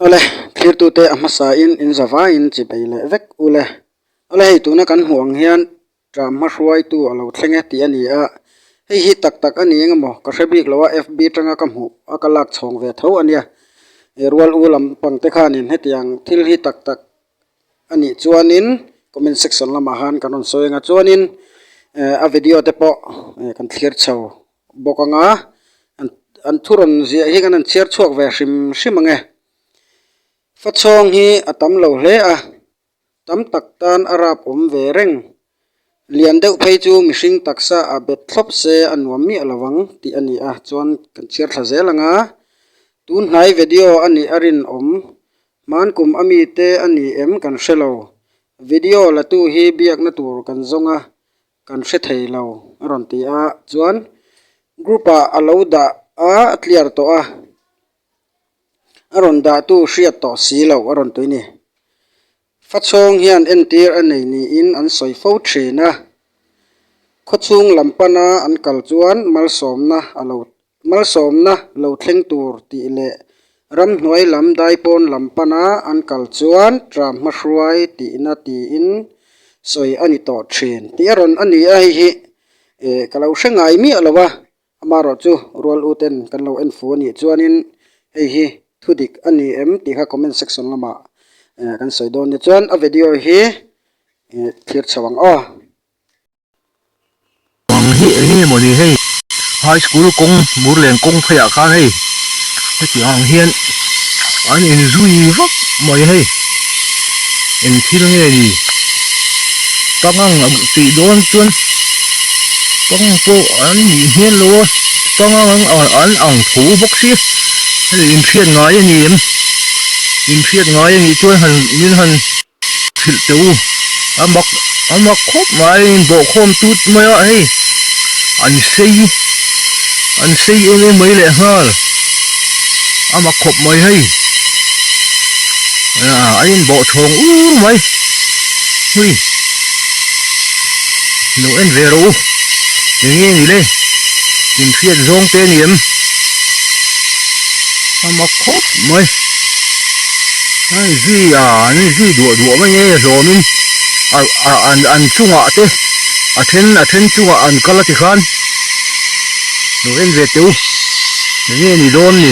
Awle thirtute a hmasain in zavaiin chi bei leh vek ule. Awle hei tuna kan hmuh ang hian tram hmahruaitu a lo thleng e tih a ni a, hei hi tak tak a ni eng emaw ka hre bik lo a FB tanga ka hmuh a ka lak chhawng ve tho a nia. Rual u lam pangte khanin hetiang thil hi tak tak a nih chuanin comment section lamah han kan rawn sawi anga chuanin ehh a video te pawh ehh kan thlir chho bawk anga an an thu rawn ziah hi kan han chhiar chhuak ve hrim hrim ange fachhawng hi a tam lo hle a tam tak tan a rap awm ve reng lian deuh phei chu mihring taksa a bet thlawp se a nuam miah lo ang tih a ni a chuan kan chhiar thla zel anga tunhnai video a nih a rinawm. Hmaan kum a mi te a ni em kan hre lo. Video la tu hi biakna tur kan zawng a, kan hre thei lo a rawn ti a. Chuan group ah a lo dah a a tliar tawh a, a rawn dah tu hriat tawh si lo a rawn ti ni. Fa chhawng hian entir a nei niin an sawi fo thin a. Khawchhung lam pan a an kal chuan malsawmna a lo Malsawmna lo thleng tur tih leh ramhnuai lam daipawn lam pana an kal chuan ṭa hmahruai tihna tiin sawi a ni tawh ṭhin tih a rawn a ni a, hei hi eh ka lo hre ngai miah lo a, amarawh chu rual uten kan lo en fu a nih chuanin hei hi thu dik a ni em tih kha comment section lamah eh kan sawi dawn nia chuan a video hi eh thlir chho ang aw. Bang hi eng nge maw ni hei high school kawng bur len kawng phei ah khan hei hetiang ang hian an in zui vak mai a hei eng thil nge ni pangang a tih dawn chuan pangang pawh an nih hmel lo a pangang an ang tho bawk si hei inhriat ngai a ni em inhriat ngai a nih chuan han min han Thilh teh u, a mak a mak khawp mai a inbawhkhawm tut mai a hei, an sei an sei em em mai leh nghal a mak khawp mai hei, a a inbawhchhawng ur mai hui, lo en ve ro u, eng nge ni le, infiat zawng te a ni em, a mak khawp mai. An i zui a, an i zui duah duah mai e hlawm in an chungah te a then a then chungah an kal a ti khan lo en ve teu enge ni dawn ni.